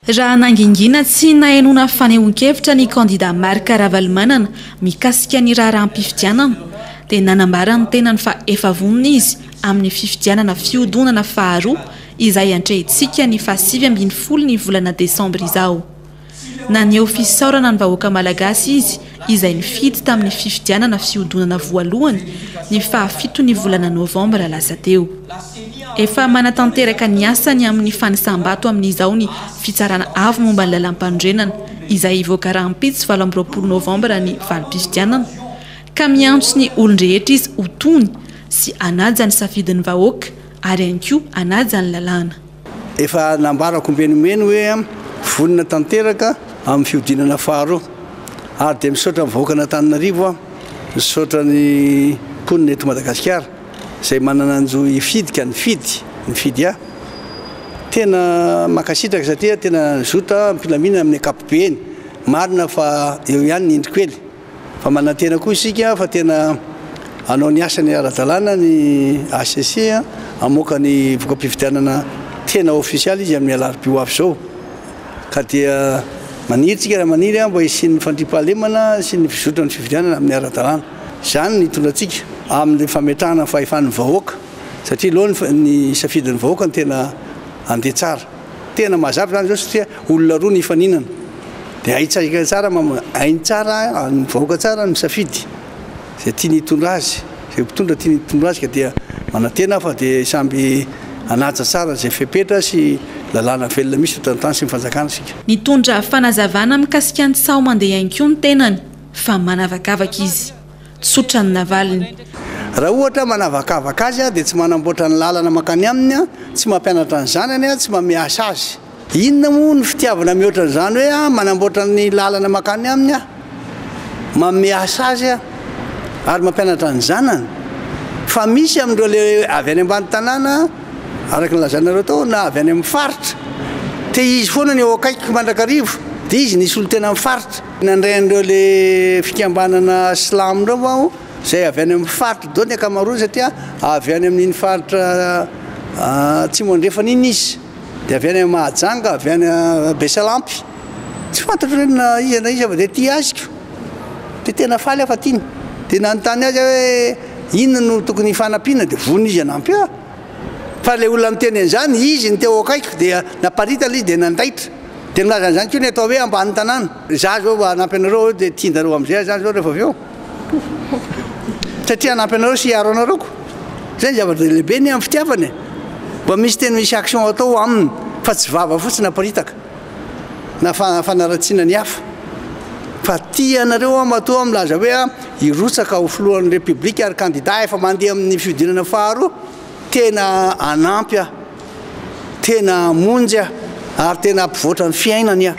Raha nangingina tsy nahenoana fanehoan-kevitra ny kandida Marc Ravalomanana mikasika ny raharaham-pifidianana dia nanambara ny tenany fa efa vonona izy amin'ny fifidianana fihodonana faharoa izay atrehintsika ny faha sivy ambin'ny folo ny volana desambra izao. Naneho fisaorana ny vahoaka malagasy izy izay nifidy tamin'ny fifidianana fihodinana voalohany ny faha fito ny volana novambra lasa teo. Efa manatanteraka ny asany amin'ny fanisam-bato amin'izao ny Fitsarana Avo momba ny Lalampanorenana izay hivoaka rahampitso valo amby roapolo novambra ny valim-pifidianana ka miantso ny olon-drehetra izy ho tony sy hanaja ny safidin'ny vahoaka ary ihany koa hanaja ny lalàna. Efa nambarako mivenomeno hoe vonona tanteraka amin'ny fihodinana faharoa ary dia misaotra ny vahoakan'Antananarivo aho, misaotra ny mponina eto Madagasikara izay manana ny jo hifidika, nifidy, nifidy ahy. Tena mankasitraka satria tena nazoto aho ampilamina amin'ny ankapobeny. Marina fa eo ihany ny indro kely. Fa manantena koa isika fa tena hanao ny asany ara-dalàna ny hcc, hamoaka ny voka-pifidianana tena ofisialy izy amin'ny alarobia ho avy izao. Ka dia maniry tsika raha maniry mba hisian'ny fandriampahalemana sy ny fizotran'ny fifidianana amin'ny ara-dalàna. Izany ny hitondra antsika amin'ny fametrahana ny fahefan'ny vahoaka satria aloha ny safidin'ny vahoaka no tena handeha tsara. Tena mazava izany izao satria olona roa nifaninana dia haitsika tsara hainy tsara ny vahoaka tsara misafidy izay tiany hitondra azy, izay mpitondra tiany hitondra azy ka dia manantena aho fa dia samby hanaja tsara izay fepetra sy lalàna velona misy eto an-tany sy ny fanjakana isika. Nitondra fanazavana mikasika ny tsaho mandeha ihany koa ny tenany fa manavakavaka izy. tsotra ny navaliny. Raha ohatra manavakavaka azy aho dia tsy manamboatra ny lalana mankany aminy aho, tsy mampianatra ny zanany aho, tsy mameasa azy. Inona moa ny fitiavana mihoatra an'izany hoe aho manamboatra ny lalana mankany aminy aho, mameasa azy aho ary mampianatra ny zanany? Fa misy amin'ireo ilay avy any ambany tanàna, araka ny lazainareo tao, na avy any amin'ny faritra. Te-hizy foana ny eo akaikiko mandrakariva, dia izy nisolo-tena amin'ny faritra. Nandray an'ireo le fikambanana silamo ireo aho izay avy any amin'ny faritra daholo ny ankamaroany satria avy any amin'iny faritra atsimo andrefana iny izy dia avy any Mahajanga avy any Besalampy tsy fantatro hoe na iza na iza fa dia tia azy ko dia tena faly aho fa tiany dia nanontany azy aho hoe inona no tokony hifanampiana dia vonona izy hanampy ahy fa ilay olona niteny an'izany izy no teo akaikiko dia naparitana izy dia nandaitra Dia nilaza an'izany koa ny atao hoe ambanin'ny tanàna. Izaho izao mba hanampy anareo aho dia tianjareo amin'izay aho zany izao rehefa avy eo. Satria hanampy anareo sy hiaro anareo ko. Izay ny zava-dehilehibe anie amin'ny fitiavana e. Mba misy tena misy action atao aminy fa tsy vava fotsiny aparitaka na fanaratsiana ny hafa. Fa tia anareo aho matoa milaza hoe hirotsaka ho filohan'ny Repiblika ary kandida efa mandeha amin'ny fihodinana faharoa. Tena hanampy aho. Tena hamonjy aho ary tena hampivoatra ny fiainany aho.